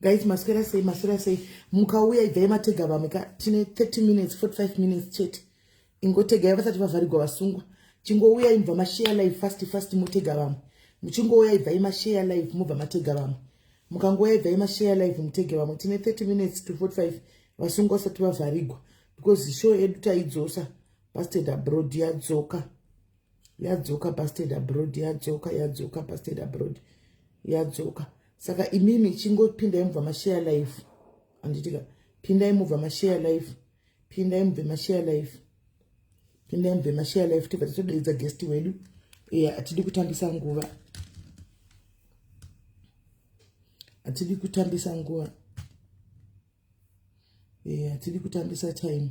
guys maswera sei maswera sei mukauya ibvai matega vamwe ka tine 30 minutes 45 minutes chete ingotegai vasati vavharigwa vasungwa chingouya imbva mashare live fast fast motega vamwe muchingouya ibvai mashare live mobva matega vamwe mukangouya ibvai mashare live mutege vamwe tine 30 minutes to 45 vasungwa vasati vavharigwa because show yedu taidzosa pasted abroad yadzoka yadzoka pasted abroad yadzoka yadzoka pasted abroad yadzoka saka imimi chingopindai mubva mashare life anditika pindai mubva mashare life pindai mubve mashare life pindai mubve mashare life tibva tatodeedza guest wedu iye atidi kutambisa nguva atidi kutambisa nguva Eh, hatidi yeah, kutambisa time.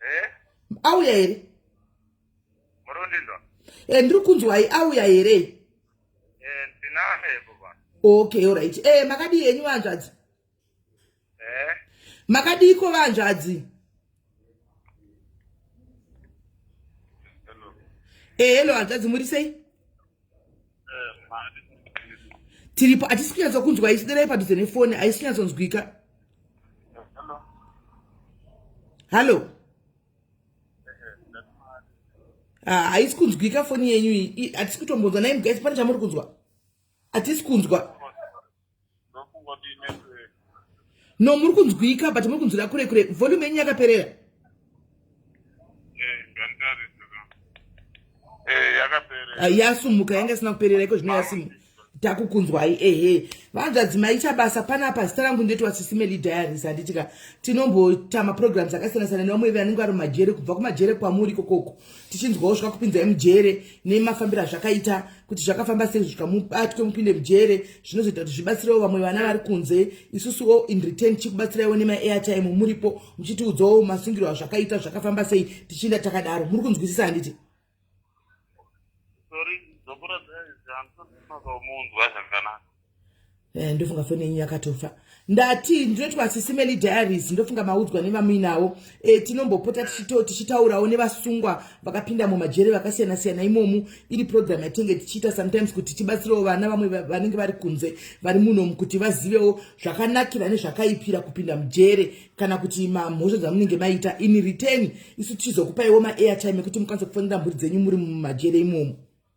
Eh? Auya here? Murundindwa. Eh, ndiri kunzwai auya here? Eh, ndinaye baba. Okay, all right. Eh, makadii henyu vanzvadzi? Eh? Makadii ko vanzvadzi? Hello. Eh, hello, hanzvadzi muri sei? tiripo hatisi kunyatsa kunzwa isi derai padhuze nefoni haisi kunyatsonzwika hallo ah, haisi kunzwika foni yenyu iyi hatisi kutombonzwa nai mgaisi pane chamuri kunzwa hatisi kunzwa no muri kunzwika but muri kunzwira kure kure volume yenyu yakaperera eh, yasumuka yanga isina kuperera iko zvino yasimuka takukunzwai ehe vanzvadzi maita basa panapa zita rangu ndeti wasisimeli diaries handitika tinombota maprograms akasiyana siyana nevamwe vanenge vari mumajere kubva kumajere kwamuri kokoko tichinzwawo zvakakupinzai mujere nemafambiro azvakaita kuti zvakafamba sei zvikamubatwe mupinde mujere zvinozoita kuti zvibatsirewo vamwe vana vari kunze isusuwo in return tichikubatsiraiwo nemaairtime muripo muchitiudzawo masungiro azvakaita zvakafamba sei tichienda takadaro muri kunzwisisa handiti Eh, ndofunga foni yenyu yakatofa ndati ndinoitwa sisimeli diaries ndofunga maudzwa nevamuinawo e, eh, tinombopota tichito tichitaurawo nevasungwa vakapinda mumajere vakasiyana siyana imomu iri program yatinge tichiita sometimes kuti tibatsirewo vana vamwe vanenge vari kunze vari munomu kuti vazivewo zvakanakira nezvakaipira kupinda mujere kana kuti mamhosva dzamunenge maita in return isu tichizokupaiwo maairtime ekuti mukwanise kufonera mhuri dzenyu muri mumajere imomu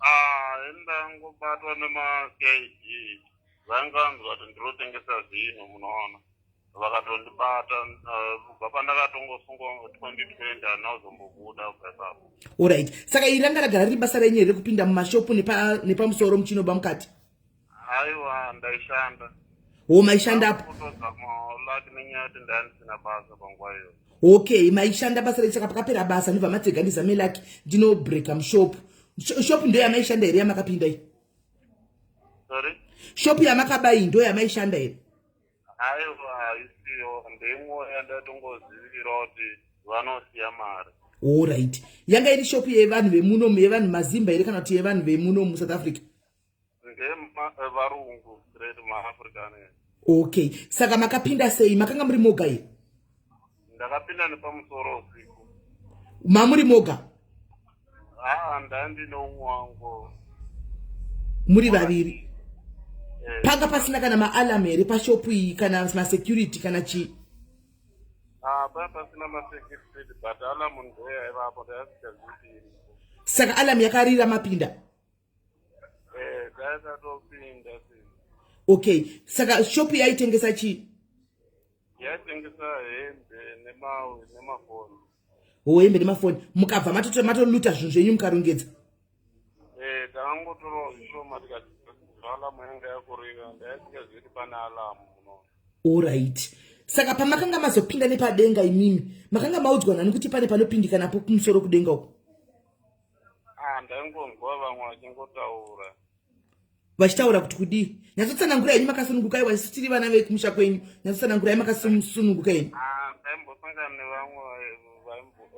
Ah, ndangobatwa nemaCID vanganzwa kuti ndirotengesa zvinhu munoona vakatondibata eh, kubva pandakatongosungwa 2020 handina kuzombobuda kubva ipapo Alright. Saka iri ranga ragara riri basa renyu here rekupinda mumashopu nepa nepamusoro muchinoba mukati? Haiwa ndaishanda. Wo maishanda apo. Kutoza malaki nenyaya yekuti ndandisina basa panguva iyoyo. Okay, maishanda basa rei saka pakapera basa ndibva matega ndizame laki ndino breaker mushop. Shop ndo yamaishanda here yamakapinda iyi? Sorry. Shop yamakaba iyi ndo yamaishanda here? Haiwa isiyo ndimwe yandatongozivira kuti vanosiya mari. All right. Yanga iri shop yevanhu vemuno yevanhu mazimba here kana kuti yevanhu vemuno mu South Africa? ndevarungu straight maafrican okay saka makapinda sei makanga muri moga here ndakapinda nepamusoro usiku mamuri moga haa ah, ndandine umwe wangu muri vaviri eh. panga pasina kana maalam here pashopu iyi kana masecurity kana chii ah, paa pasina masecurity but alam ndoyaivapo ndayasikaziii saka alam yakarira mapinda Eh, dzakatopinda sisi. okay saka shop yaitengesa chii Yaitengesa hembe nemawe nemafoni. ho hembe nemafoni mukabva matoto- matoluta zvinhu zvenyu mukarongedza Eh, takangotorawo zvishoma tikati alamu yanga yakurira ndaisingazivi kuti pane alamu muno. orit saka pamakanga mazopinda nepadenga imimi makanga maudzwa nani kuti pane panopindikanapo kumusoro kudenga uko Ah, ndaingonzwa vamwe vachingotaura vachitaura kuti kudii nyatsotsanangura yenyu makasununguka iwa isu tiri vana vekumusha kwenyu nyatsotsanangura ye makasununguka yenyu Ah, ndaimbosangana nevamwe vaimbo-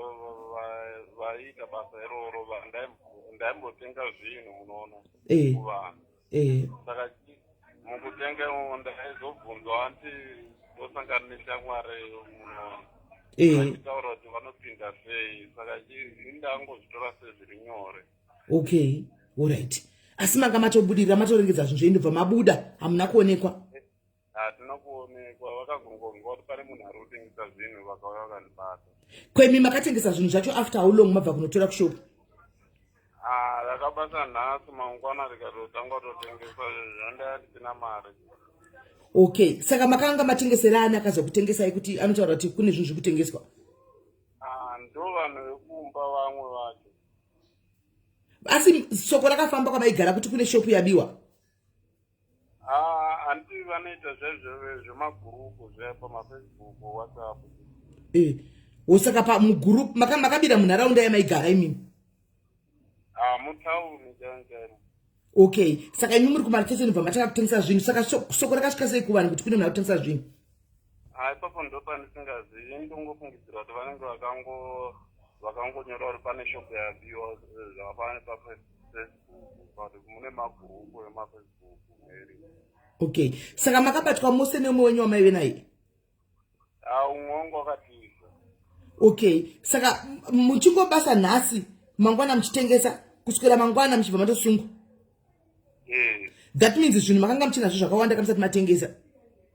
va- vaiita basa iroro va- ndaimbo- ndaimbotenga zvinhu munoona Eh. kuvanhu eh. saka mukutenga umo ndaizobvunzwa anti ndosangana neshamwari munoona eh. vachitaura kuti vanopinda sei saka indangozvitora sezviri nyore okay orit asi manga matobudirira matoregedza zvinhu zveindobva mabuda hamuna kuonekwa hatina kuonekwa vakagongonzwa kuti pane munhu ari kutengesa zvinhu vakauya vakandibata kwemi makatengesa zvinhu zvacho after how long mabva kunotora kushopu rakabasa ah, nhasi mangwana rikatotanga totengesa zvandaya ndisina mari okay saka makanga matengesera ani akazokutengesai kuti anotaura kuti kune zvinhu zviri kutengeswa ah, ndo vanhu vekumba vamwe vacho asi soko rakafamba kwamaigara kuti kune shopu yabiwa Ah, anti vanoita zvezvo zvemagurupu zve pamafacebook whatsapp Eh, osaka pa mugroup maka makabira munharaunda yamaigara imimi. ah mutauni chaimu chaimu Okay, saka imi muri kumarketeni bva matanga kutengesa zvinhu. Saka so- soko rakasvika sei kuvanhu kuti kune munhu akutengesa zvinhu? Ah, ipapo ndopandisingazivi ndongofungidzira kuti vanenge vakango vakangonyora kuti pane shop yabiwa eh, zvakafana nepafacebook but mune magrupu emafacebook mary okay saka makabatwa mose neumwe wenyu wamaive naye ah, umwe wangu wakatiza okay saka muchingobasa nhasi mangwana muchitengesa kuswera mangwana muchibva matosungwa eh. that means zvinhu makanga muchinazvo zvakawanda kamusati matengesa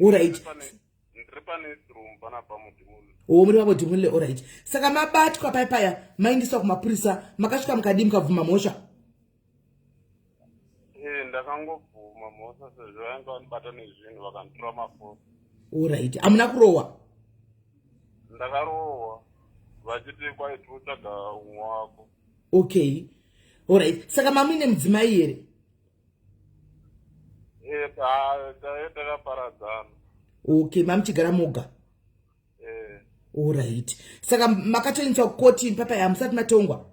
orit o muri vavo dhimulile orit saka mabatwa pai paya maindiswa kumapurisa makasvika mukadii mukabvuma mhosva eh, ndakangobvuma mhosva sezvo vainge vanibata nezvinhu vakanditora mafoni orit hamuna kurohwa ndakarohwa vachiti kwaiti votsvaga umwe wako okay orit saka mamuine mudzimai here Eh, taive takaparadzana okay mamuchigara moga eh. orit saka makatoendeswa kukoti papa ya musati matongwa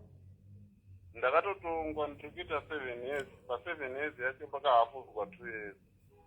ndakatotongwa ndikuita seven years paseven years yacho pakahafudzwa two years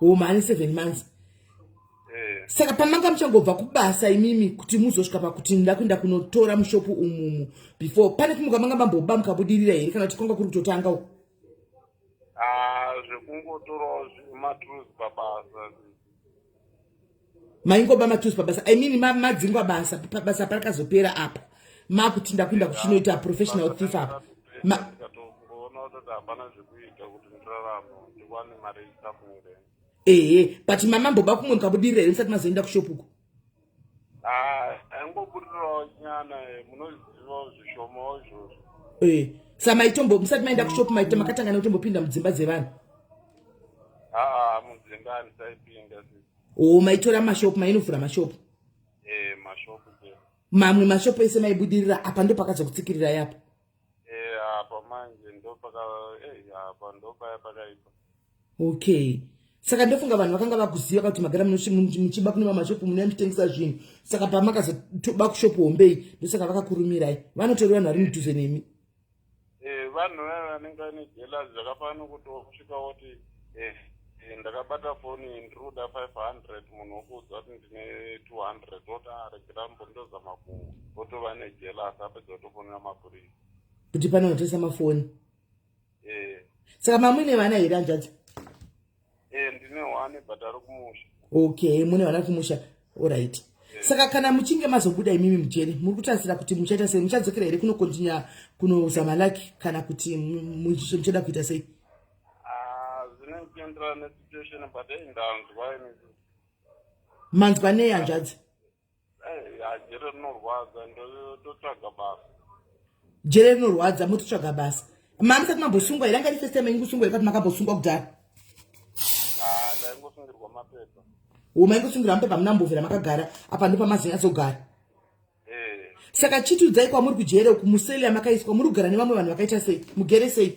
homa ane seven months eh. saka pamanga muchangobva kubasa imimi kuti muzosvika pakuti nda kuenda kunotora mushopu umumu before pane kumuka manga mamboba mukabudirira here kana kuti kwanga kuri kutotanga u ah, zvekungotorawo matruth pabasa maingoba matuzi pabasa i mean madzingwa basa basa parakazopera apa makuti ndakuenda kuchinoita professional thief apa ehe but mama mboba kumwe mukabudirira here musati mazoenda kushopuko angobudirirawo nyana eh, munozivawo zvishomawo izvozvo eh, sa maitombo musati maenda kushopu maita makatangana kutombopinda mudzimba dzevanhu aa mudzimba andisaipinda sisi oo maitora mashop mainovhura mashop eh, mamwe mashop ese maibudirira apa ndo pakazokutsikirira yapo eh, apa manje ndopakaipa okay saka ndofunga vanhu vakanga vakuziva kuti magara muchiba kune mamashopu mune muchitengesa zvinhu saka pamakazotoba kushopu hombei ndosaka vakakurumirai vanotori vanhu vari mudhuze nemi eh, vanhu vaya vanenge vane jelas zvakafanana nokuti wakusvika woti eh, eh, ndakabata foni ndiri kuda five hundred munhu wokuudza kuti ndine two hundred woti aregera ah, mbondozama ku wotova nejelas apedza wotofonera mapurisa kuti pane kutengesa mafoni eh. saka mamwine vana here hanzvadzi Eh, ndine one but ari kumusha. Okay, mune vana kumusha. All right. Saka kana muchinge mazobuda imimi mujeri, muri kutarisira kuti muchaita sei? Muchadzokera here kuno continue kuno zama laki kana kuti muchada kuita sei? Ah, zvine kuenderana ne situation but hey, ndanzwa ini. Manzwa nei hanzvadzi? jere rinorwadza ndototsvaga basa jere rinorwadza mototsvaga basa mamusati mambosungwa here angati first time yenyu kusungwa here kati makambosungwa kudhara ndaingosungirwa mapepa wo maingosungirwa mapepa hamuna mbovhera makagara apa ndo pamazinyazogara saka chitiudzai kwamuri kujere uku museli yamakaiswa muri kugara nevamwe vanhu vakaita sei mugere sei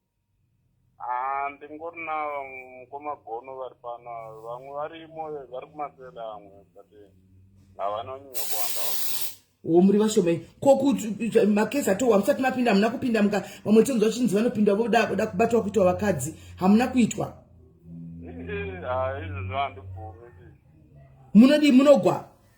Ah, ndingorina mukoma gono vari pano vamwe varimo vari kumasela amwe but havana kunyanya kuwanda wo muri vashomai ko kuti makesi atowa musati mapinda hamuna kupinda muka vamwe tonzwa chinzi vanopinda voda voda kubatwa kuitwa vakadzi hamuna kuitwa izvozvo handibvumi munodii munogwa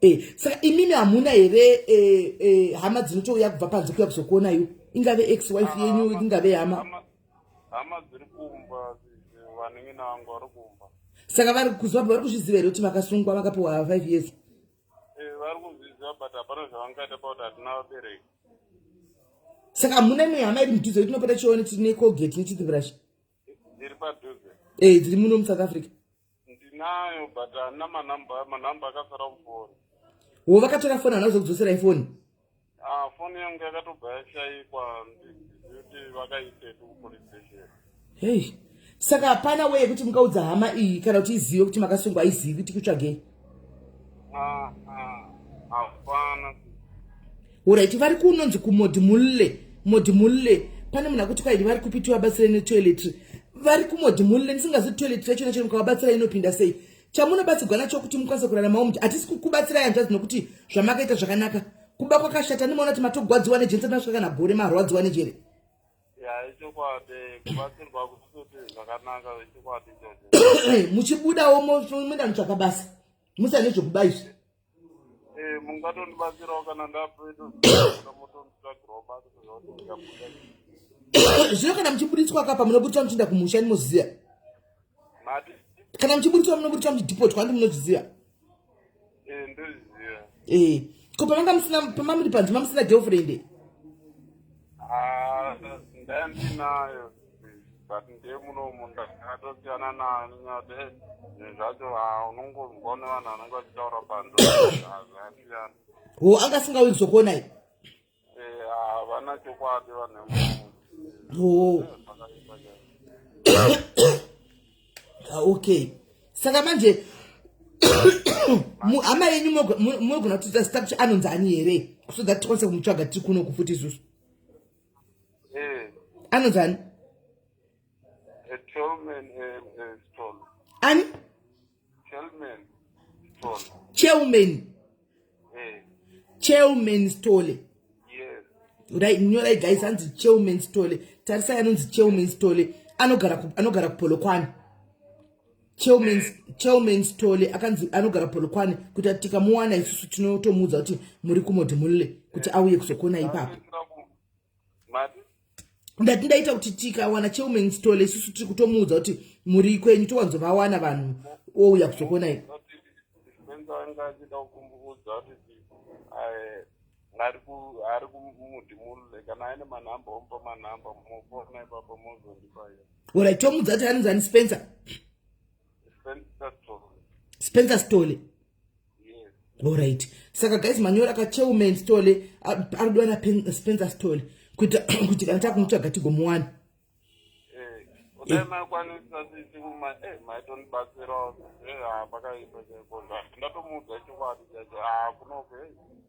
eh, saka imimi hamuna here eh, eh, hama dzinotouya kubva panze kuya kuzokuona iyo ingave ex wife ah, yenyu ingave hama hama dziri kumba vanenge nangu vari kumba saka vari kuziva vari kuzviziva here kuti vakasungwa vakapiwa five years eh, vari kuzviziva but hapana zvavangaita pakuti hatina vabereki saka hamuna imwe hama iri mudhuze kuti tinopota chione tine colgate nechithibrash Ndiri padhuze. Eh, dziri muno muSouth Africa. Ndinayo but ana manamba manamba akasara mufoni. Wo vakatora foni hana kuzokudzosera ifoni. Ah, foni yangu yakatobva yashaikwa ndikuti vakaisetu kupolice station. Hey. Saka hapana weye kuti mungaudza hama iyi kana kuti izive kuti makasungwa aizivi kuti kutsvagei. Ah, ah, hapana Alright, vari kunonzi kumodi mulle, modi mulle. Pane munhu akuti kwaidi vari kupi tivabatsire netoiletry. Vari kumodi mulle ndisingazi toiletry yacho nacho mukawabatsira inopinda sei. Chamunobatsirwa nacho kuti mukwanise kuraramawo muti hatisi kukubatsira yanzvadzi nokuti zvamakaita zvakanaka. Kuba kwakashata ndimoona kuti matogwadziwa nejeri sati masvika kana gore marwadziwa nejeri. ya ichokwadi kubatsirwa kuti zvakanaka ichokwadi ichocho muchibudawo moenda mutsvaka basa musane zvekuba izvi eh, mungatondibatsirawo kana zvino kana muchibuditswa kapa munobuditswa muchienda kumusha ndimoziva kana muchibuditswa munobuditswa muchidhipotwa ndi munozviziva Eh, ndoziva. Eh, ko pamanga musina pamamuri panzi mamusina girlfriend? Ah, ndandinayo. But ndiye muno munhu akatosiyana nayo nyade. Zvacho ah unongonzwa nevanhu vanenge vachitaura panzi. Hazvasiyana. Wo anga asingawi kuzokuona iye. Eh, havana chokwadi vanhu Oh. vemuzvakaipa chaizvo Ah, okay saka manje mu- hama yenyu mogo- mu- munogona kutita zita kuti anonzi ani here so that tikwanise kumutsvaga tiri kuno kufuti isusu Eh, anonzi ani a tall man and a stall ani Chairman Stole. Chairman. Eh. Chairman Stole. Yes. Right, nyorai guys hanzi Chairman Stole. Tarisai anonzi Chairman Stole. Anogara ku anogara kupolokwane. Chairman eh. Chairman Stole akanzi anogara polokwane kuti atika muwana isusu tinotomuudza kuti muri kumodhi mulle kuti auye kuzokuona ipapo. ndati ndaita kuti tikawana cheuman stole isusu tiri kutomuudza kuti muri ikwenyu towanzovawana vanhu ouya kuzokuonai ari kumuti mule kana aine manhamba omupa manhamba mofona ipapa mozondipaya ora tomudza kuti anonzi ani spencer spencer stole orit saka guys manyora ka chairman stole ari kudiwa na spencer stole kuita kuti kana takumutsvaga tigomuwana ndatomuudza chokwadi chacho akunoke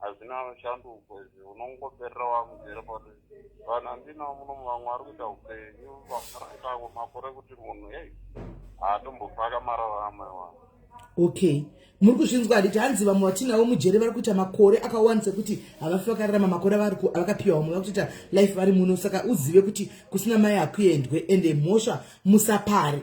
hazvina shanduko izvi unongoperera wakuziva kuti vanhu andina munomu vamwe vari kuita upenyu vaakuitako makore kuti munhu ei haatombopfaka mararamo evanhu okay muri kuzvinzwa handiti hanzi vamwe vatinavo mujere vari kuita makore akawani sekuti havafi vakararama makore avakapiwa vamwe vakutoita life vari muno saka uzive kuti kusina mai hakuendwe ende mhosva musapare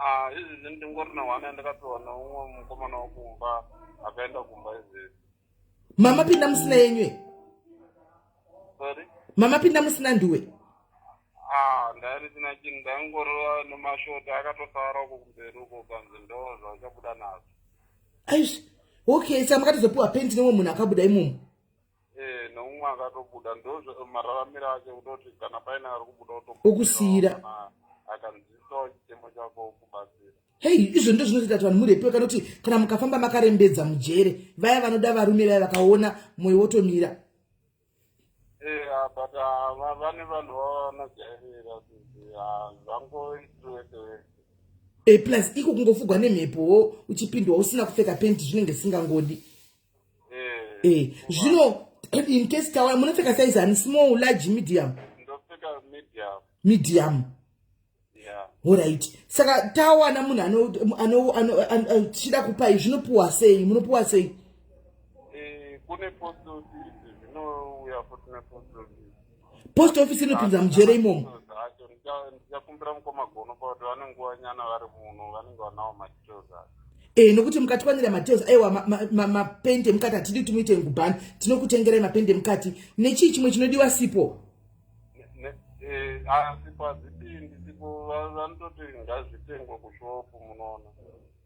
Ah, izvi ndini ndingori na one yandakapiwa neumwe mukomana wekumba akaenda kumba izvi mama pinda musina yenyu e sorry mama pinda musina ndiwe ah ndairisina chinhu ndaingori nemashoti akatosara uko kumberi uko kanzi ndo zvauchabuda nazvo aizvi okay saka makatozopiwa penti neumwe munhu akabuda imomo Eh, noumwe akatobuda ndozvo mararamiro ake kutoti kana paine ari kubuda Okusiyira. utokumbirawo kana akanzwisisawo chichemo chako okubatsira hei izvo ndizvo zvinozoita kuti vanhu murepiwe kana kuti kana mukafamba makarembedza mujere vaya vanoda varume vaya vakaona mwoyo wotomira Eh, ah, but ah, va- vane vanhu vavo vanojairira kuti ah, zvangoiti wese wese e plus iko kungofugwa nemhepowo uchipindwa usina kupfeka penti zvinenge zvisingangodi eh, eh zvino in case tawaya munopfeka size ani small large medium medium orit saka tawana munhu anochida kupai zvinopiwa sei munopiwa sei eh, kune postosi zvinouya futi nepostosi post office inopinza mujere imomo ndichakumbira mukoma gono pakuti vane nguva nyana vari muno vanenge vanawo madetails acho e eh, nokuti mukatwanira madetails aiwa mapendi emukati hatidi kuti muite ngubhani tinokutengerai mapendi emukati nechii chimwe chinodiwa sipo asipo eh, azipindi sipo vanototi ngazvitengwe kushopu munoona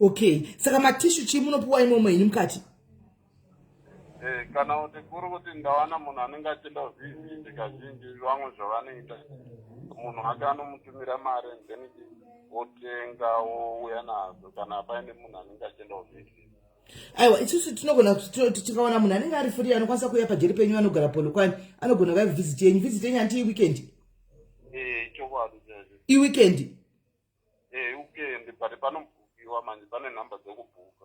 okay saka matishu chii munopiwa imomo henyu mukati eh, kana kuti kuri kuti ndawana munhu anenge achida kuzvizizi kazhinji vamwe zvavanoita munhu ake anomutumira mari then wotenga wouya nazo kana paine munhu anenge achida kuzvizizi aiwa isusu tinogona tikaona munhu anenge ari free anokwanisa kuuya pajeri penyu anogara polokwani anogona vaive visit yenyu visit yenyu hanti iweekend eh, iweekend Eh, ukende but panobhukiwa manje pane nhamba dzekubhuka.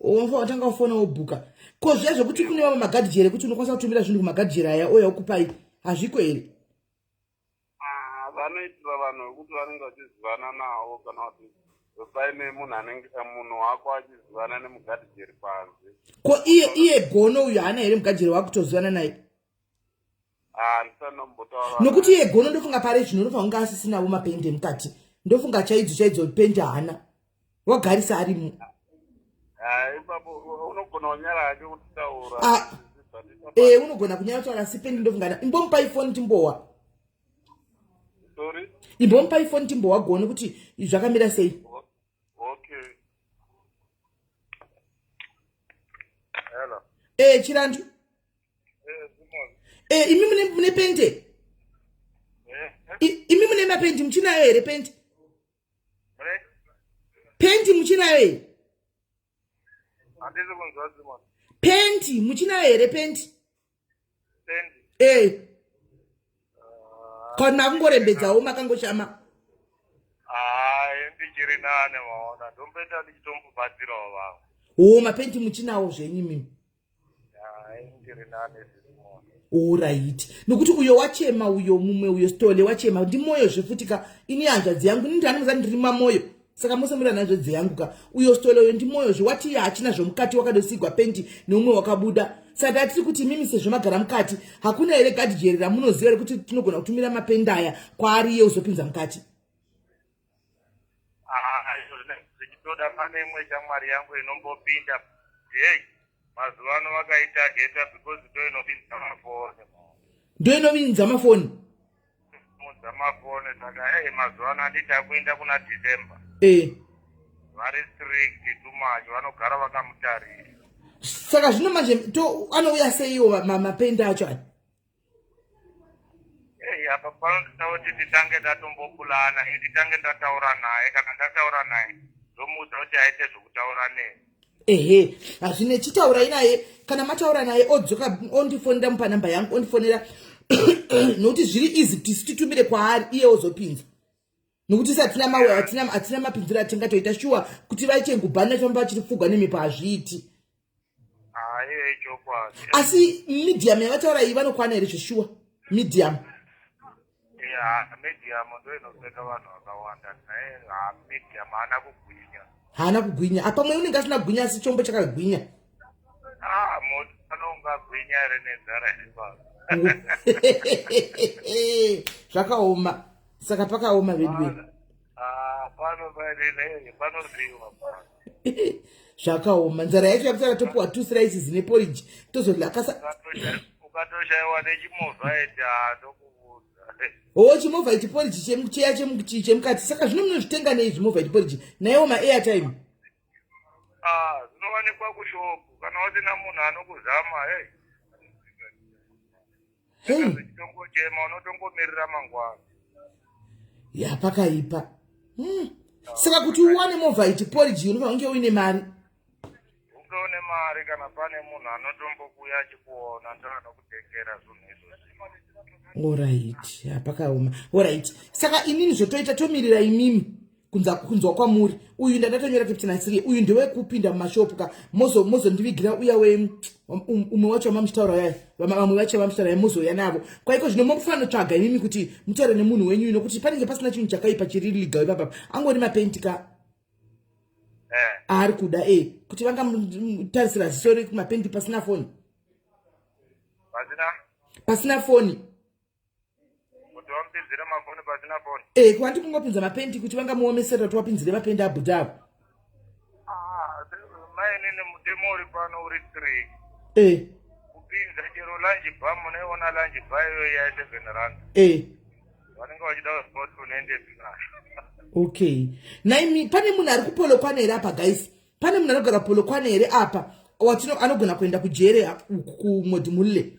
Unfa watanga kufona wobhuka. Ko zviya zvekuti kune vamwe magadhi here kuti unokwanisa kutumira zvinhu kumagadhi here aya ouya okupai hazviko here? Ah, vanoitira vanhu vekuti vanenge vachizivana navo kana kuti paine munhu anenge eh, munhu wako achizivana nemugadhi jeri panze. Ko iye iye gono uyu haana here mugadhi here wakutozivana naye? Ah, nokuti iye gono ndofunga pare zvino ndofunga kunge asisinavo mapendi emukati ndofunga chaidzo chaidzo pendi haana wagarisa arimo ah, e unogona kunyara kutaura asi pendi ndofungana imbomupai foni timbowa imbomupai foni timbowa gono kuti zvakamira sei ee eh, chirandu e, imi mune, mune pente imi mune mapenti muchinayo here penti penti muchinayo here penti muchinayo here penti e kon makungorembedzawo makangoshama ndichiri nane maona ndombeta ndichitombobatsirawo vavo wo mapenti muchinawo zvenyu mimi orit nokuti uyo wachema uyo mumwe uyo stole wachema ndi moyo zvefuti ka ini hanzvadzi yangu nindi anoza ndiri mamoyo saka mose muri ananzvadzi yangu ka uyo stole uyo ndi moyo zve wati hachina zvomukati wakadosigwa pendi neumwe wakabuda saka hatiri kuti mimi sezvo magara mukati hakuna here gadijeri ramunoziva rekuti tinogona kutumira mapendi aya kwaari ye uzopinza mukati Ah, izvo zvinenge zvichitoda pane imwe shamwari yangu inombopinda hey mazuva ano vakaitageta because ndo inopinda mafoni ndo inovinza mafoni mudza mafoni saka hey mazuva ano handiti akuenda kuna december e vari strict too much vanogara vakamutarisa saka zvino manje to anouya seiwo ma- ma- mapendi acho aya Hey, apa panotoda kuti titange tatombopulana eh, titange ndataura naye kana ndataura naye ndomuudza kuti aite zvokutaura nei ehe hazvine chitaurai naye kana mataura naye odzoka ondifonera mupa namba yangu ondifonera nokuti zviri easy kuti titumire kwaari iye ozopinza nokuti se hatina mawe hatina hatina mapinziro atingatoita shuwa kuti vaichengubhani vachifamba vachiri pfugwa nemhepo hazviiti asi medium yavataura iyi vanokwana here zveshuwa medium haana kugwinya apamwe unenge asina gwinya asi chombo chakagwinya Ah, moto anongagwinya here nenzara yebaba. zvakaoma saka pakaoma veduweni Ah, pano pane nei, panodiwa pano. zvakaoma nzara yacho yakuti akatopiwa two slices neporiji tozolakasa Ukatosha- Ukatoshaiwa nechimovha eti ah, ndokubudza. oo chimovha ichi poriji chemu- cheya chemu- chi- chemukati saka zvino munozvitenga nei zvimovha ichi poriji naiwo maairtime Ah, dzinowanikwa kushopu kana wasina munhu anokuzama hey Hey, uchitongochema unotongomirira mangwana ya pakaipa. Hmm. Saka kuti uwane movha iti porridge unofana kunge uine mari. unge une mari kana pane munhu anotombokuya achikuona ndoanokutengera zvinhu izvozvi Alright, ya pakaoma. Alright. Saka inini zvotoita tomirira imimi. kunza kunzwa kwamuri uyu ndatotonyora kuti nasiri uyu ndewe kupinda mumashopu ka mozo mozondivigira uya we um, um, umwe wacho wamamuchitaura yaya vamwe vacho vamamuchitaura yaya mozouya navo kwaiko zvino mofanira tsvaga imimi kuti mutaure nemunhu wenyu ino kuti panenge pasina chinhu chakaipa chiri legal ipapa angori mapenti ka eh. aari kuda e eh. kuti vangamutarisira zisori mapenti pasina foni pasina foni kuti vamupinzire mafoni pasina foni Eh, kwati kungopinza mapendi kuti vangamuomeserera kuti wapinzire mapendi abuda apo. Ah, mainini mutemo uri pano uri three Eh, kupinza chero lunch bar munaiona lunch bar iyoyo ya seven rand eh. vanenge vachida kuziva kuti unoende zvinasho okay naimi pane munhu ari kupolokwana here apa guys pane munhu anogara polokwana here apa watino anogona kuenda kujere kumodhimulle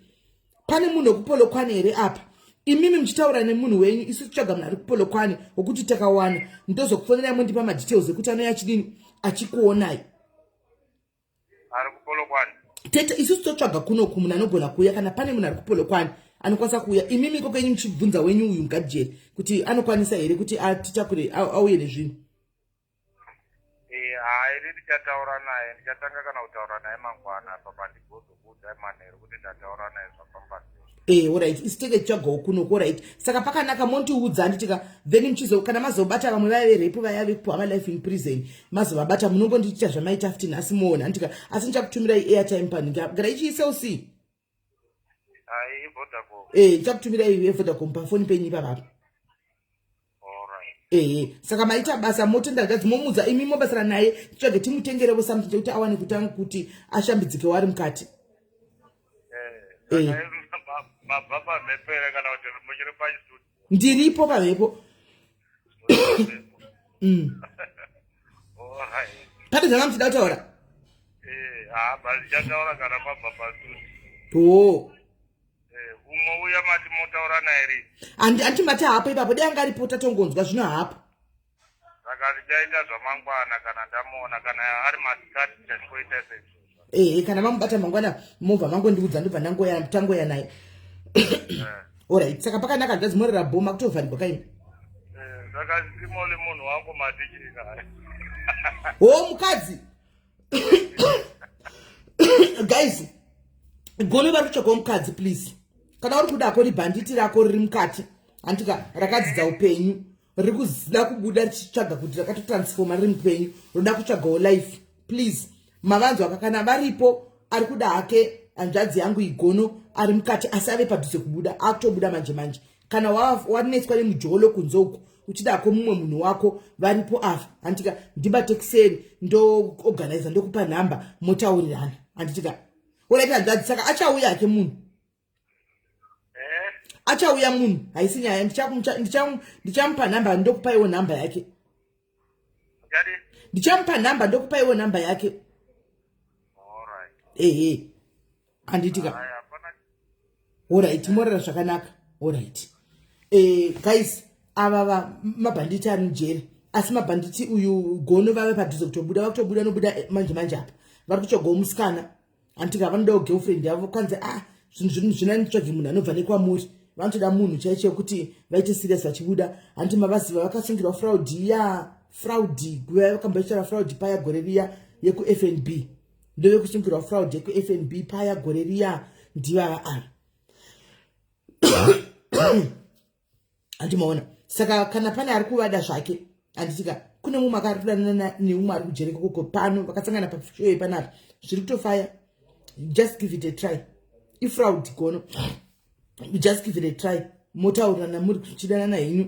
pane munhu wekupolokwane here apa imimi muchitaura nemunhu wenyu isu tichaga munhu ari kupolokwane wokuti takawana ndozokufonerai mondipa madetails ekuti anouya achidini achikuonai ari kupolokwane tete isusu totsvaga kunoku munhu anogona kuuya kana pane munhu ari kupolokwane anokwanisa kuuya imimi iko kenyu muchibvunza wenyu uyu mugadijeri kuti anokwanisa here kuti atitakure auye nezvinhu Eh, haidi ndichataura naye ndichatanga kana kutaura naye mangwana apa pandigozokuudzai manheru kuti ndataura naye zvafamba sei Eh, alright isitenge tichagawo kuno ko right saka pakanaka mondiudza handiti ka then muchizo kana mazobata vamwe vaya verepu vaya vekupuwa malife in prison mazovabata munongondiitira zvamaita futi nhasi moona handiti ka asi ndichakutumirai airtime panhingi apa gara ichiisel c Ayi Vodacom. Eh, ndichakutumira iwe Vodacom pafoni penyu ipapa. Alright. Eh, saka maita basa motenda gadzi momudza imi mobasira naye tsvage timutengerevo something chekuti awane kutanga kuti ashambidzike wari mukati. Eh. Eh. Saka ma- mabva pamhepo here kana kuti muchiri pachitudio? ndiripo pavepo mm. pane zvanga muchida kutaura eh, ah, baichataura kana kwabva pasuti o eh, umwe uya mati motaura naye ri handi mati hapo ipapo dai anga aripo tatongonzwa zvino hapo saka ndichaita zvamangwana kana ndamuona kana ari masikati ndichangoita sezvo ehe kana mamubata mangwana mobva mangondiudza ndobva ndangoya tangoya naye orit eh. saka pakanaka zvazi more rabhoma kutovharigwa kaini eh, saka ndimole munhu wangu matichika ho mukadzi guys gome vari kutsvagawo mukadzi please kana uri kuda ko ribhanditi rako riri mukati hantika rakadzidza upenyu riri kuda kubuda richitsvaga kuti rakatotransforma riri mupenyu roda kutsvagawo life please mavanzwa ka kana varipo ari kuda hake hanzvadzi yangu igono ari mukati asi ave padhuze kubuda akutobuda manje manje kana wanetswa nemujolo kunze uku uchidako mumwe munhu wako varipo ava handitika ndibate kuseri ndoorganiza ndokupa nhamba motaurirana handitika olaita hanzvadzi saka achauya hake munhu eh? achauya munhu haisi nyaya ndichamupa nhamba ndokupaiwo nhamba yake ndichamupa nhamba ndokupaiwo nhamba yake ehe handiitika orit morara zvakanaka orit eh, guys ava mabhanditi ari mujeri asi mabhanditi uyu gono vave padhuze kutobuda vakutobuda nobuda eh, manje manje apa vari kutsvagawo musikana hanti ka vanodawo girlfriend yavo kwanzi a ah, zvinhu zvina nitsvage munhu anobva nekwamuri vanotoda munhu chaicho yekuti vaite serious vachibuda hanti mavaziva vakasungirwa fraud ya fraud guva yavakamba ichitaura fraud paya gore riya yekufnb ndovekusungirwa fraud yekufnb paya gore riya ndivava ava handi maona saka kana pane ari kuvada zvake handitika kune mumwe akari kudanana neumwe ari kujereka koko pano vakasangana pashoe panapa zviri kutofaya just give it a try ifraud gono just give it a try motaurirana muri kuchidanana henyu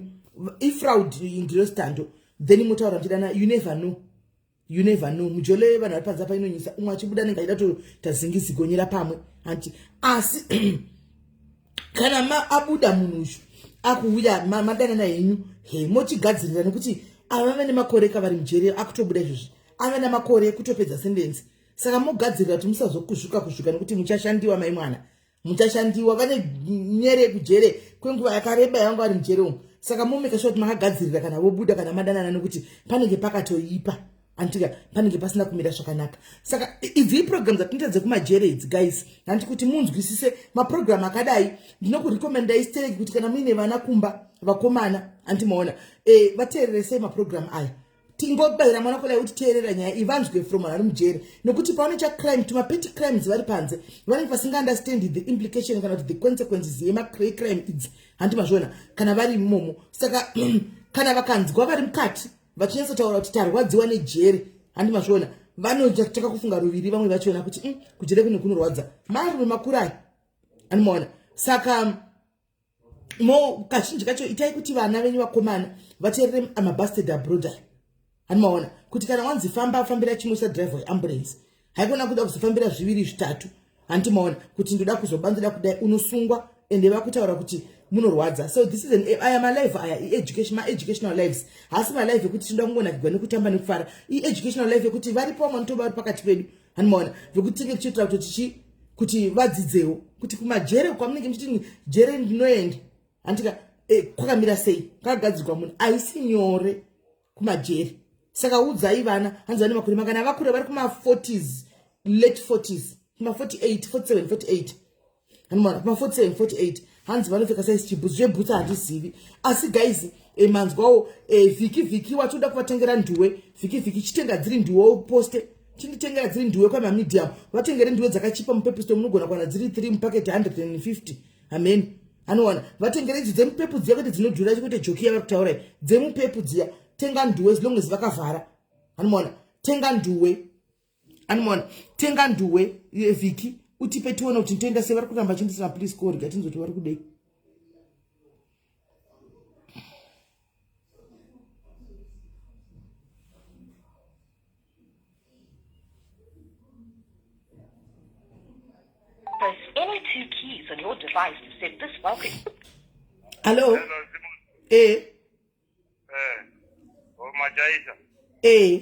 ifraud ndiro stando then motaura muchidana you never know you never know mujolo yevanhu vari panze apa inonyisa umwe achibuda nenge aida toita zingizigonyera pamwe hanti asi kana ma abuda munhu uyu akuuya madanana henyu he mochigadzirira nekuti ava vane makore kavari mujeri akutobuda izvozvi ava namakore ekutopedza sendenzi saka mogadzirira kuti musazokuzvuka kuzvuka nekuti muchashandiwa mai mwana muchashandiwa vane nyere kujere kwenguva yakareba yavanga vari mujere umu saka momeka sure kuti makagadzirira kana vobuda kana madanana nekuti panenge pakatoipa antika panenge pasina kumira zvakanaka saka idzi iprogram dzatinoita dzekumajere idzi guys handi kuti munzwisise maprogram akadai ndinokurekomenda istereki kuti kana muine vana kumba vakomana andimaona e, eh, vateereresei maprogram aya tingobaira mwana kudai kuti teerera nyaya ivanzwe from vari mujeri nokuti pavanoita crime tumapeti crimes vari panze vanenge vasingaunderstand the implication kana kuti the consequences yemacray crime idzi handi mazviona kana vari imomo saka kana vakanzwa vari mukati vachinyatsotaura kuti tarwadziwa nejeri handi mazviona vanotaka kufunga ruviri vamwe vachiona kuti mm, kujere kune kunorwadza marume makurayi andimaona saka mo kazhinji kacho itai kuti vana venyu vakomana vateerere amabasted abroad ayo hanimaona kuti kana wanzi famba afambira chimwe sadriver weambulance haikona kuda kuzofambira zviviri zvitatu handimaona kuti ndoda kuzoba ndoda kudai unosungwa ende vakutaura kuti munorwadza so this is an aya malive aya ieducation maeducational lives haasi malive ekuti tinoda kungonakigwa nekutamba nekufara ieducational life ekuti varipo vamwe nitoba vari pakati pedu hanimaona zvekuti tinge tichitira kuti tichi kuti vadzidzewo kuti kumajere kwamunenge muchiti jere ndinoenda handitika eh, kwakamira sei kakagadzirwa munhu haisi nyore kumajere saka udzai vana hanzi vane makore makana vakure vari kuma40s late 40s kuma 48 47 48 anomwana kuma 47 48 hanzi vanopfeka saisi chibhutsu zvebhutsu handizivi asi guys e, manzwawo e, vhiki vhiki watoda kuvatengera nduwe vhiki vhiki chitenga dziri nduwe uposte chinditengera dziri nduwe kwamamedium vatengere nduwe dzakachipa mupepusto munogona kuwana dziri 3 mupaket 150 amen anowana vatengere idzo dzemupepu dziya kuti dzinodhura kuti joki yavari kutaura dzemupepu dziya tenga nduwe zilonges vakavhara anomaona tenga nduwe animoona tenga nduwe vhiki utipe tione kuti ntoenda sei vari kuramba chindisina please korga tinzoti vari kudei Hello. Eh. Eh. Oh, Majaisa. Eh.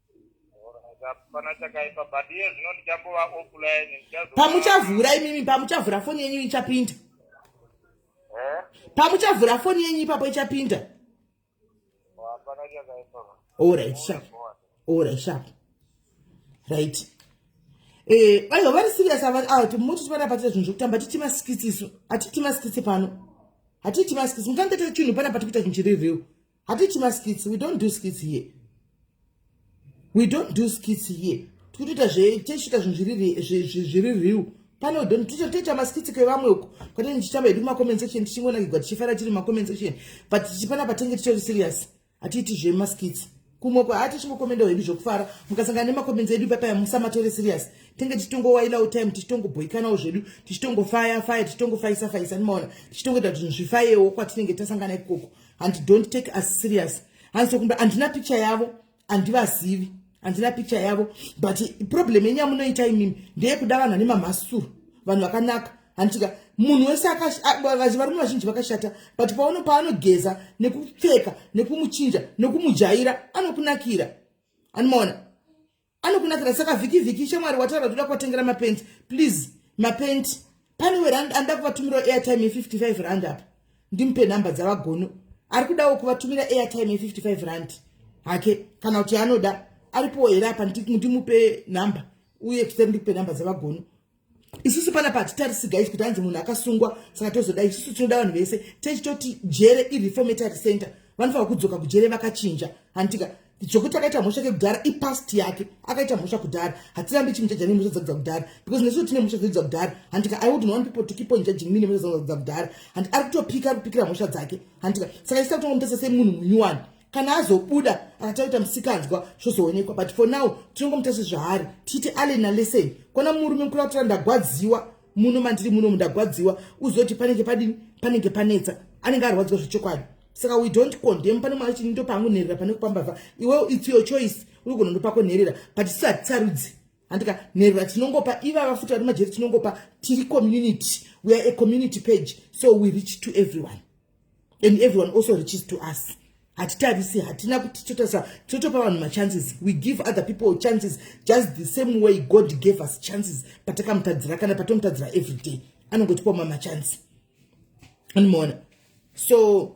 pamuchavhura imimi pamuchavhura foni yenyu ichapinda eh? pamuchavhura foni yenyu ipapo ichapinda orit sharp orit sharp right eh, aiwa vari serious ava awa timuti tivana patita zvinhu zvekutamba hatiti masikitsi isu hatiti masikitsi pano hatiti masikitsi mukange tete chinhu pana pati kuita zvinhu chiri real hatichi maskits we don't do skits here we don't do skits here tikutoita zvetichita zvinhu zviri real pane udoni tichatoita maskits kwevamwe uko kwete ndichitamba hedu macomment section tichingonakigwa tichifara tiri macomment section but tichipana patenge titori serious hatiiti zvemaskits kumwe kwa hati chingokomenda hedu zvokufara mukasangana nemacomment edu ipapaya musamatore serious tenge tichitongowailawo time tichitongobhoikanawo zvedu tichitongofaya faya tichitongofayisa fayisa nimaona tichitongoita kuti zvinhu zvifayewo kwatinenge tasangana ikoko handi don't take us serious hanzi sokumba handina picture yavo handivazivi handina picture yavo but problem yenyu yamunoita imimi ndeyekuda vanhu ane mamhasuru vanhu vakanaka handitika munhu wese varume vazhinji vakashata but paono paanogeza nekupfeka nekumuchinja nekumujaira anokunakira anomaona anokunakira saka vhiki vhiki shamwari wataura kuti uda kuvatengera mapenti please mapenti pane werand anoda kuvatumirawo airtime ye55 rand apa ndimupe nhamba dzavagono ari kudawo kuvatumira airtime ye55 rand hake kana kuti anoda aripowo here apa ndimupe nhamba uye kuseri ndikupe nhamba dzavagono isusu pana patitarisi guys kuti anzi munhu akasungwa saka tozoda isusu tinoda vanhu vese techitoti jere ireformatory center vanofanira kudzoka kujere vakachinja handitika zvokuti akaita mhosva kekudhara ipast yake akaita mhosva kudhara hatirambi chimujaja nemhosva dzakudza kudhara because nesu tine mhosva dzakudza kudhara handika i wouldn't want people to keep on judging me nemhosva dzakudza kudhara handi ari kutopika ari kupikira mhosva dzake handika saka isita kutongomutasa semunhu munyuwani kana azobuda akataita musikanzwa zvozoonekwa but for now tinongomuta sezvaari tiite allen nalesen kwana murume mukuru atora ndagwadziwa muno mandiri muno mundagwadziwa uzoti panenge padini panenge panetsa anenge arwadziwa zvechokwadi saka we don't condem pane mwana chini ndopangu nherera pane kupambavha iwe its your choice uri kunondo pako nherera but sati sarudzi handika nherera tinongopa iva vafuta vari majeri tinongopa tiri community we are a community page so we reach to everyone and everyone also reaches to us hatitarisi hatina kuti totarisa totopa vanhu machances we give other people chances just the same way god gave us chances patakamutadzira kana patomutadzira every day anongotipa ma machances animoona so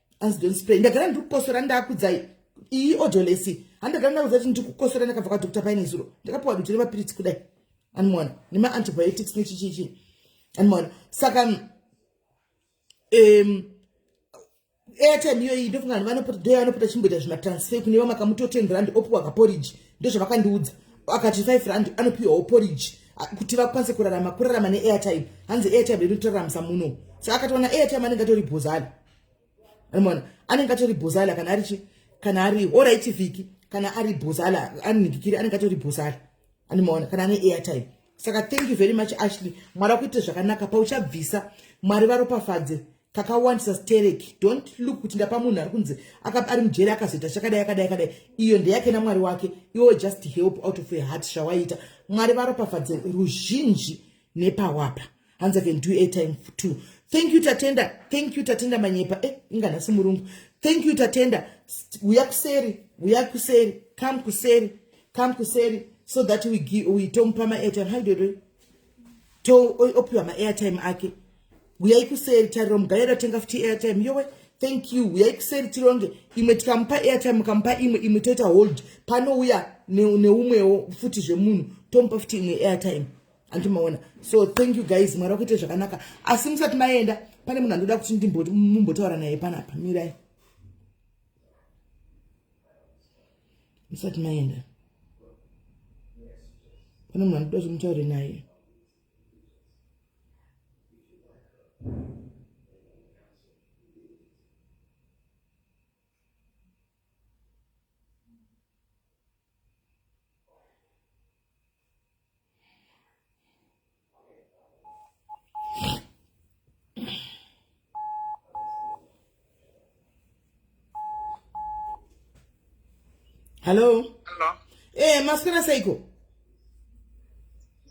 as don't spray ndagara ndiri kukosora ndakudzai iyi odolesi handagara ndakudzai kuti ndiri kukosora ndakabva kwadokta paine zuro ndakapiwa dutu remapiritsi kudai anmona nemaantibiotics nechichichi anmona saka um, airtime iyoyi ndofunga vanhu vanopota doi anopota chimboita zvimatransfer kune vamakamuto ten rand opiwa kaporridge ndozvavakandiudza akati five rand anopiwawo porridge kuti vakwanise kurarama kurarama neairtime hanzi airtime inotoraramisa muno so akatoona airtime anenge atori bhozani mona anenge atori bhozala kana ari chi kana ari orit vhiki kana ari bhozala anigikiri anenge atori bhozala animaona kana ane airtime saka thank you very much ashley mwari akuite zvakanaka pauchabvisa mwari varopafadze kakawandisa stereki don't look kuti ndapa munhu ari kunzi ari mujeri akazoita chakadai akadai akadai iyo ndeyake namwari wake iwo just help out of a heart zvawaita mwari varopafadze ruzhinji nepawapa hanzi i can do airtime too thank you tatenda thank you tatenda manyepa eh inga nhasi murungu thank you tatenda uya kuseri uya kuseri come kuseri come kuseri so that we give we tomupa ma airtime how do you to opiwa ma airtime ake uya ikuseri tariro mugaya ratenga futi airtime yowe thank you uya ikuseri tironge imwe tikamupa airtime mukamupa imwe imwe toita hold panouya neumwewo futi zvemunhu tomupa futi imwe airtime hanti maona so thank you guys mwari wakuite zvakanaka asi musati maenda pane munhu andoda kuti ndimumbotaura naye panapa mirai musati maenda pane munhu andoda kuti mutaure naye Hello? Hello? Eh, maswera seiko?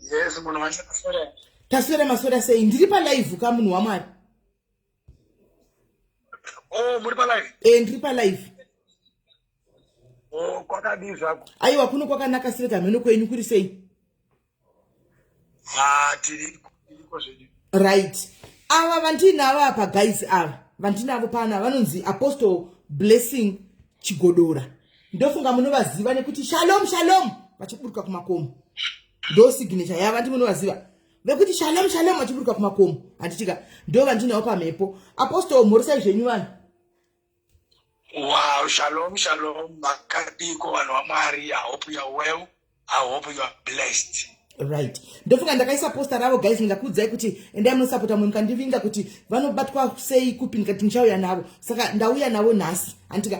Yes, munhu wacho taswera. Taswera maswera sei? Ndiri pa live ka munhu waMwari. Oh, muri palive? Eh, ndiri palive. Oh, kwakadii zvako? Aiwa kuno kwakanaka sirega mheno kwenyu kuri sei? Ah, tiri ko zvedu. Right. Ava vandinavo apa guys ava. Vandinavo pana vanonzi Apostle Blessing Chigodora. Ndofunga munovaziva nekuti Shalom Shalom vachiburuka kumakomo. Ndo signature yava ndimunovaziva. vekuti shalom shalom vachiburuka kumakomo handitika ndo vandinawo pamhepo apostol mhorisai zvenyu vanhu wow shalom shalom makadiko vanhu vamwari i hope youare well i hope youare blessed right ndofunga ndakaisa posta ravo guys ndingakuudzai kuti endai munosapota mumwe mukandivinga kuti vanobatwa sei kupi ndikati ndichauya navo saka ndauya navo nhasi handitika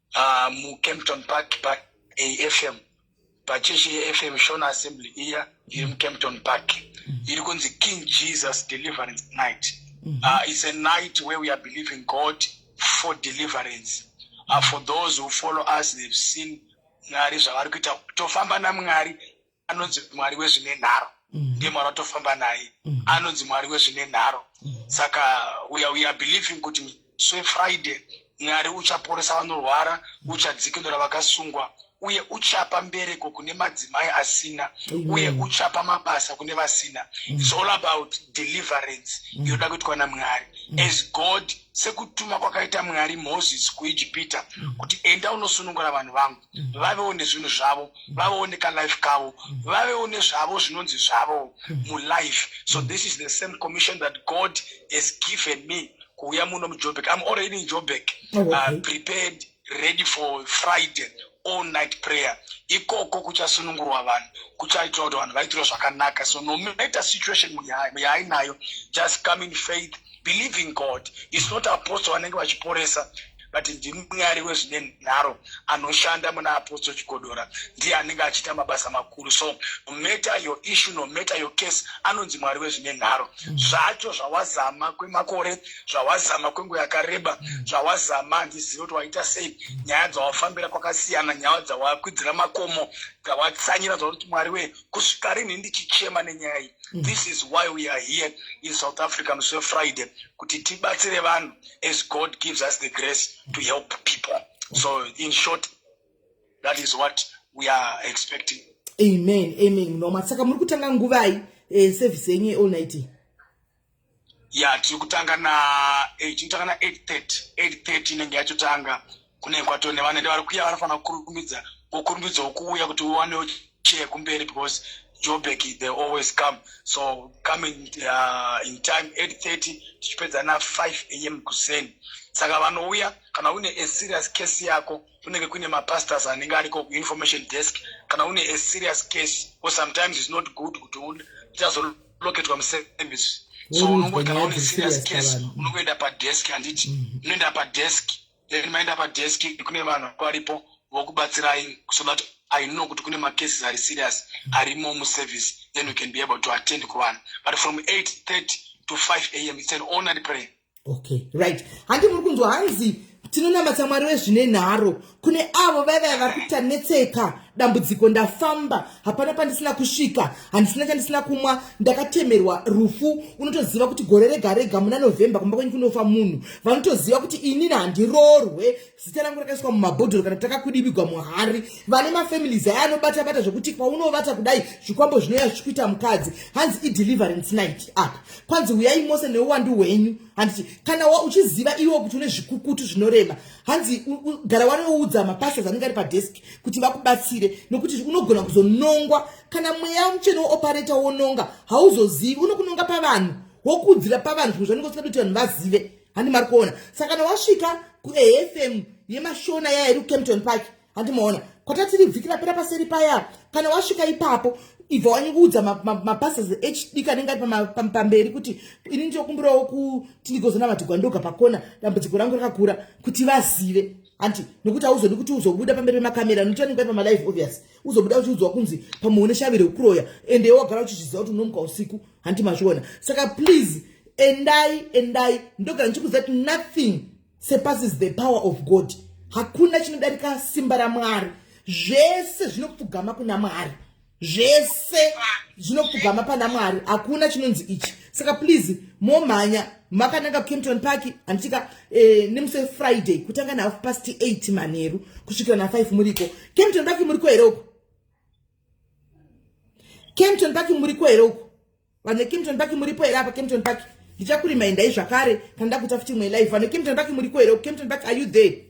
uh, mucampton park paafm pachechi yefm shona assembly iya iri mucampton park iri kunzi king jesus deliverance night mm -hmm. uh, it's a night where we are believing god for deliverance uh, for those who follow us they've seen mwari zvavari kuita tofamba namwari anonzi mwari wezvine nharo mm. ndiye mwari watofamba naye mm. anonzi mwari wezvine nharo mm. saka we are, we are believing kuti so friday mwari uchaporesa vanorwara uchadzikinura vakasungwa uye uchapa mbereko kune madzimai asina uye uchapa mabasa kune vasina mm. its all about deliverance mm. yoda kuitwa namwari mm. as god sekutuma kwakaita mwari moses kuijipita kuti enda unosunungura vanhu vangu mm. vavewo nezvinhu zvavo mm. vavewo nekalife kavo mm. vavewo nezvavo zvinonzi zvavo mulife so this is the same commission that god has given me kuuya muno mujobek im already in jobek oh, uh, prepared ready for friday all night prayer ikoko kuchasunungurwa vanhu kuchaitwa kuti vanhu vaitirwa zvakanaka so no matter situation muyainayo just come in faith believing god is not apostle vanenge vachiporesa but ndimwari wezvine nharo anoshanda muna apostle chigodora ndiye anenge achiita mabasa makuru so nomatter your issue nomatter your case anonzi mwari wezvine nharo mm. zvacho zvawazama kwemakore zvawazama kwenguva yakareba mm. zvawazama handizivi kuti waita sei mm. nyaya dzawafambira kwakasiyana nyaya dzawakwidzira makomo dzawatsanira dzakuti mwari wee kusvika rinhi ndichichema nenyaya iyi this is why we are here in south africa musi wefriday kuti tibatsire vanhu as God gives us the grace to help people. So, in short, that is what we are expecting. Amen. Amen. No, masaka muri kutanga nguvai eh, service yenyu all night. Yeah, tiri kutanga na 8 eh, totanga na 8:30. 8:30 inenge yachotanga. kune kwatone vanoenda vari kuya vanofanira kukurumidza vokurumidzwa kuuya kuti uwane chair kumberi because jobek they always come so come in, uh, in time 830 tichipedza na 5 am kuseni saka vanouya kana une a serious case yako kunenge kuine mapastors anenge ariko information desk kana une a serious case or sometimes is not good kuti uchazoloketwa muservice so unongoti kana une serious case unongoenda padesk handiti mm-hmm. unoenda padesk mm -hmm. then maenda padesk kune vanhu varipo vokubatsirai so that i know kuti kune macases ari serious arimo muservice then we can be able to attend kuvanhu but from 830 to 5 a m its an honored prayer okay right handi muri kunzwa hanzi tinonamatsa mwari wezvine nharo kune avo vaiva vari kuita netseka dambudziko ndafamba hapana pandisina kusvika handisina chandisina kumwa ndakatemerwa rufu unotoziva kuti gore rega rega muna novhember kumba kwenyu kunofa munhu vanotoziva kuti inini handirorwe zita rangu rakaiswa mumabhodhoro kana takakudibigwa muhari vane mafamilies aya anobata bata zvekuti kwaunovata kudai zvikwambo zvinouya zvichikuita mukadzi hanzi ideliverance night apa kwanzi huyai mose neuwandu hwenyu handiti kana wa uchiziva iwo kuti une zvikukutu zvinorema hanzi gara wanoudza mapastas anenge ari padesk kuti vakubatsire nokuti unogona kuzonongwa kana mweya mutsvene woopareta wononga hauzozivi unokunonga pavanhu wokudzira pavanhu zvimwe zvanenge usingadi kuti vanhu vazive handi mari kuona saka kana wasvika kuafm yemashona yaya iri kucampton park handi maona kwatatiri vhiki rapera paseri paya kana wasvika ipapo ibva wanyikuudza mapasas ma, ma hd kanenge ari pamberi kuti ini ndinokumbirawo kuti ndigozonavatigwandoga pakona dambudziko rangu rakakura kuti vazive hanti nokuti hauzodi kuti uzobuda pamberi pemakamera nokuti anenge aipa malive obvious uzobuda uchiudzwa kunzi pamwe une shavi rekuroya ende iwe wagara uchichiziva kuti unomuka usiku hanti mazviona saka please endai endai ndogara ndichikuziva kuti nothing surpasses the power of god hakuna chinodarika simba ramwari zvese zvinopfugama kuna mwari zvese zvinopfugama pana mwari hakuna chinonzi ichi saka please momhanya makananga kempton park handitika eh, nemusi wefriday kutanga nahalf past 8 manheru kusvikira na5 muriko kempton park muriko here uko kempton park muriko here uko Vanhu veKimpton Park muripo here apa Kimpton Park? Ndichakurimai ndai zvakare kana ndakuita futi imwe live. Vanhu veKimpton Park muriko here? Kimpton Park are you there?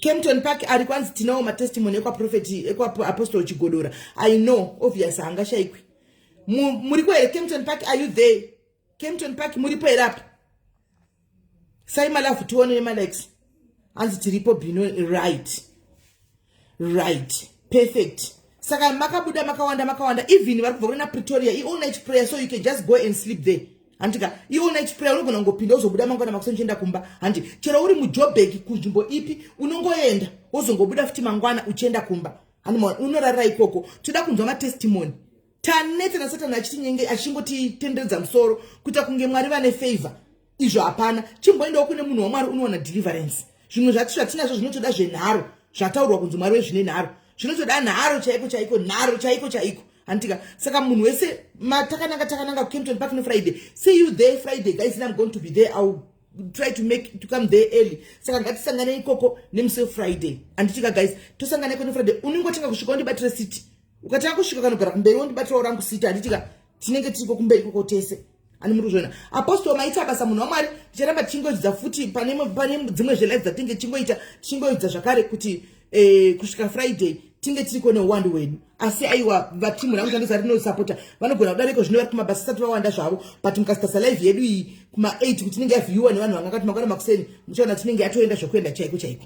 Kempton Park ari kwanzi tinawo matestimony ekwa prophet ekwa apostle Chigodora. I know obvious hanga shaikwi. Muriko here Kempton Park are you there? Kempton Park muripo here apa? sai malafu tione nemalikes hanzi tiripo bino right right perfect saka makabuda makawanda makawanda even vari kubva kuna pretoria iall night prayer so you can just go and sleep there handika iall night prayer unogona kungopinda uzobuda mangwana makusa uchienda kumba handi chero uri mujobek kunzvimbo ipi unongoenda wozongobuda futi mangwana uchienda kumba handi unorara ikoko toda kunzwa matestimony tanetsa nasatani achitinyenge achingotitenderedza musoro kuita kunge mwari vane favor izvo hapana chimboendawo kune munhu wamwari unowana deliverance zvimwe zvati zvatinazvo zvinotoda zvenharo zvataurwa kunzi mwari wezvine nharo zvinotoda nharo chaiko chaiko nharo chaiko chaiko handitika saka munhu wese matakananga takananga kucampton park nefriday see you there friday guys am going to be there ill try to make to come there early saka ngatisangane ikoko nemusi wefriday handitika guys tosanganeko nefriday unenge otanga kusvika undibatire city ukatanga kusvika kanogara kumberi wondibatirawo rangu sita handitika tinenge tiriko kumberi koko tese ani muri kuzviona apostol maita basa munhu wamwari ticharamba tichingodzidza futi pane dzimwe zvelife dzatinge tichingoita tichingoidza zvakare kuti eh, kusvika friday tinge tiri kone uwandu hwedu asi aiwa vatimu rangu tandisa rinosapota vanogona kudariko zvino vari kumabasa sati vawanda zvavo but mukasitasa live yedu iyi kuma 8 kuti inenge yavhiyiwa nevanhu vangakati makwana makuseni muchaona tinenge yatoenda zvekuenda chaiko chaiko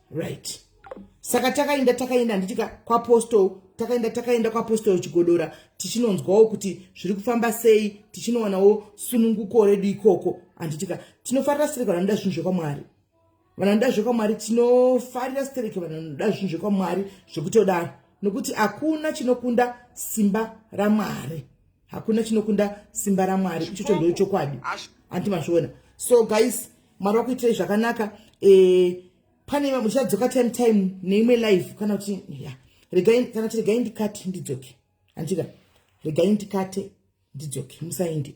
right saka takaenda takaenda handitika kwapostal takaenda takaenda kwapostal chigodora tichinonzwawo kuti zviri kufamba sei tichinowanawo sununguko redu ikoko handitika tinofarira stereke vanoda zvinhu zvekwamwari vanoda zvekwamwari tinofarira stereke vanoda zvinhu zvekwamwari zvekutodaro nokuti hakuna chinokunda simba ramwari hakuna chinokunda simba ramwari ichocho ndochokwadi hanti mazviona so guys mwari wakuitirei zvakanaka eh, pane muchadzoka time time neimwe live kana kuti ya regai kana kuti regai ndikate ndidzoke handika regai ndikate ndidzoke musaindi